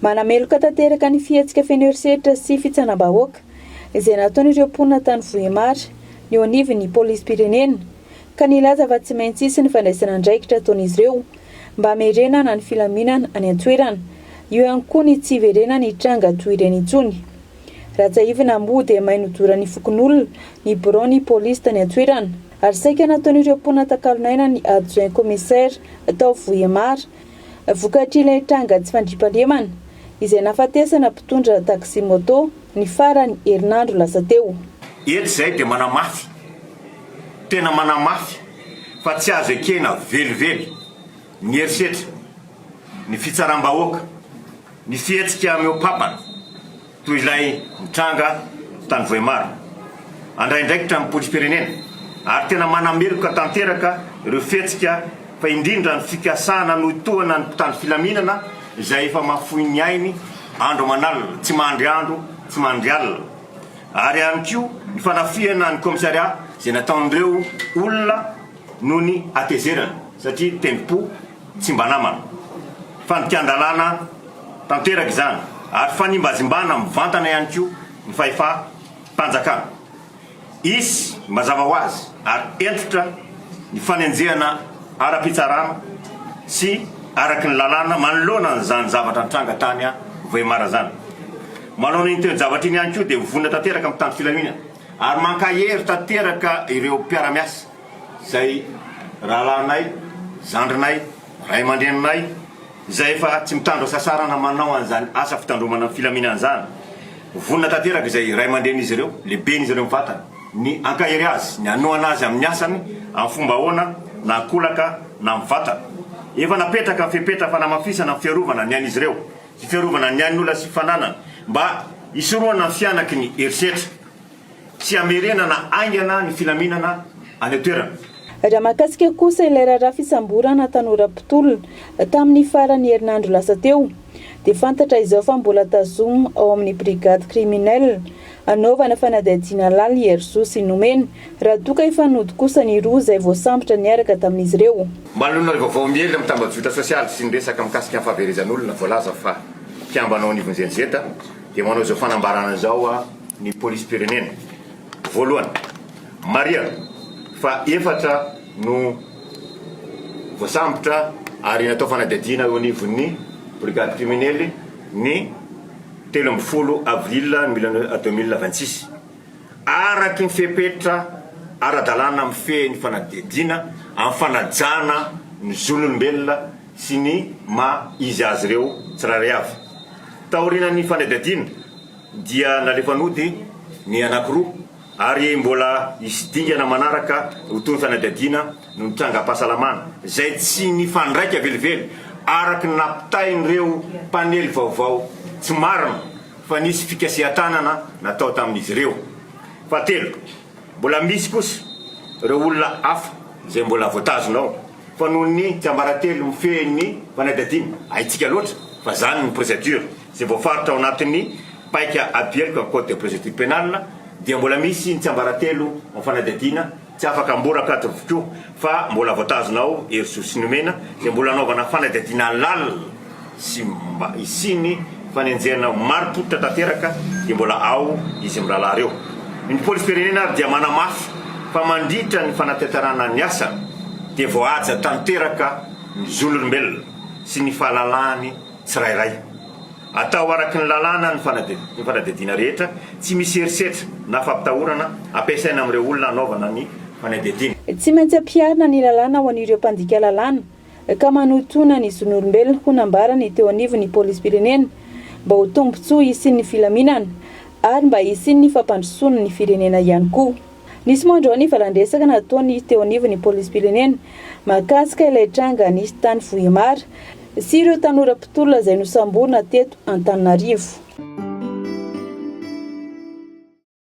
Manameloka tanteraka ny fihetsika feno herisetra sy fitsanam-bahoaka izay nataon'ireo mponina tany Vohemar ny eo anivon'ny polisim-pirenena ka nilaza fa tsy maintsy hisy ny fandraisana andraikitra ataon'izy ireo mba hamerenana ny filaminana any an-toerana. Eo ihany koa ny tsy hiverenany hitranga toy ireny intsony. Raha tsiahivina moa dia may nodoran'ny fokonolona ny biraon'ny polisy tany an-toerana. ary saika nataon'ireo mponina takalon'aina ny adjoint commissaire tao Vohemar vokatr'ilay tranga tsy fandriampahalemana izay nahafatesana mpitondra taxi-moto ny faran'ny herinandro lasa teo. Eto izahay dia manamafy, tena manamafy fa tsy azo ekena velively ny herisetra, ny fitsaram-bahoaka, ny fihetsika mihoa-papana. toy ilay nitranga tany Vohemar, handray andraikitra amin'ny polisim-pirenena ary tena manameloka tanteraka ireo fihetsika fa indrindra ny fikasana hanohitohana ny mpitandro filaminana izay efa mahafoy ny ainy andro aman'alina, tsy mandry andro, tsy mandry alina ary ihany koa ny fanafihana ny kaomisarià izay nataon'ireo olona noho ny hatezerana satria tendrom-po. Tsy mba namana. Fandikan-dalàna tanteraka izany ary fanimbazimbana mivantana ihany koa ny fahefam-panjakana. Hisy mazava ho azy ary hentitra ny fanenjehana ara-pitsarana sy araky ny lalàna manoloana an'izany zavatra nitranga tany Vohemar izany. Manoloana iny toe-javatra iny ihany koa dia vonona tanteraka ny mpitandro filaminana ary mankahery tanteraka ireo mpiara-miasa. izay rahalahinay, zandrinay, ray aman-dreninay izay efa tsy mitandro hasasarana manao an'izany asa fitandromana ny filaminana izany. Vonona tanteraka izay ray aman-drenin'izy ireo, lehiben'izy ireo mivantana, ny hankahery azy, ny hanohana azy amin'ny asany amin'ny fomba ahoana na an-kolaka na mivantana. Efa napetraka ny fepetra fanamafisana ny fiarovana ny ain'izy ireo sy fiarovana ny ain'olona sy fananany mba hisorohana ny fihanaky ny herisetra. Tsy hamerenana haingana ny filaminana any an-toerana. Raha mahakasika kosa ilay raharaha fisamborana tanora mpitolona tamin'ny faran'ny herinandro lasa teo dia fantatra izao fa mbola tazom ao amin'ny brigade criminelle anaovana fanadihadiana halal i Herzou sy nomena Ratoka Ifanody kosa ny roa izay voasambotra niaraka tamin'izy ireo. Manoloana ny vaovao miely amin'ny tambajotra sosialy sy ny resaka mikasika ny fahaverezan'olona voalaza fa mpiambana ao anivon'ny Zenz, Dia manao izao fanambarana izao ny polisim-pirenena, Voalohany, marihako fa efatra no voasambotra ary natao fanadihadiana eo anivon'ny brigade kriminely ny telo ambin'ny folo avril mille neuf deux mille vingt six. Araky ny fepetra ara-dalàna mifehy ny fanadihadiana amin'ny fanajana ny zon'olombelona, sy ny maha izy azy ireo tsirairay avy. Taorian'ny fanadihadiana dia nalefa nody ny anankiroa ary mbola hisy dingana manaraka ho toy ny fanadihadiana noho ny trangam-pahasalamana izay tsy nifandraika velively araka ny nampitain'ireo mpanely vaovao tsy marina fa nisy fikasihan-tanana natao tamin'izy ireo. Fahatelo. Mbola misy kosa ireo olona hafa izay mbola voatazona ao fa noho ny tsiambaratelo mifehy ny fanadihadiana, haintsika loatra fa izany ny procedure izay voafaritra ao anatin'ny paika abiheloka code de procedure pénale dia mbola misy ny tsiambaratelo ao fanadihadiana tsy afaka amboraka ato avokoa. fa mbola voatazona ao Erisoa sy nomena dia mbola hanaovana fanadihadiana lalina sy mba hisian'ny fanenjehana ho marim-pototra tanteraka dia mbola ao izy mirahalahy ireo. Ny polisim-pirenena ary dia manamafy fa mandritra ny fanatanterahana ny asany dia voahaja tanteraka ny zon'olombelona sy ny fahalalahany tsirairay. Atao araky ny lalàna ny fanadihadiana rehetra, tsy misy herisetra na fampitahorana ampiasaina amin'ireo olona hanaovana ny fanadihadiana. Tsy maintsy ampiharina ny lalàna ho an'ireo mpandika lalàna ka manotonà ny zon'olombelona, hoy nambara ny teo anivon'ny polisim-pirenena, mba ho tombontsoa hisian'ny filaminana ary mba hisian'ny fampandrosoana ny firenena ihany koa. Nisy moa androany valan-dresaka nataon'ny teo anivon'ny polisim-pirenena mahakasika ilay tranga nisy tany Vohemar sy ireo tanora mpitolona izay nosamborina teto Antananarivo.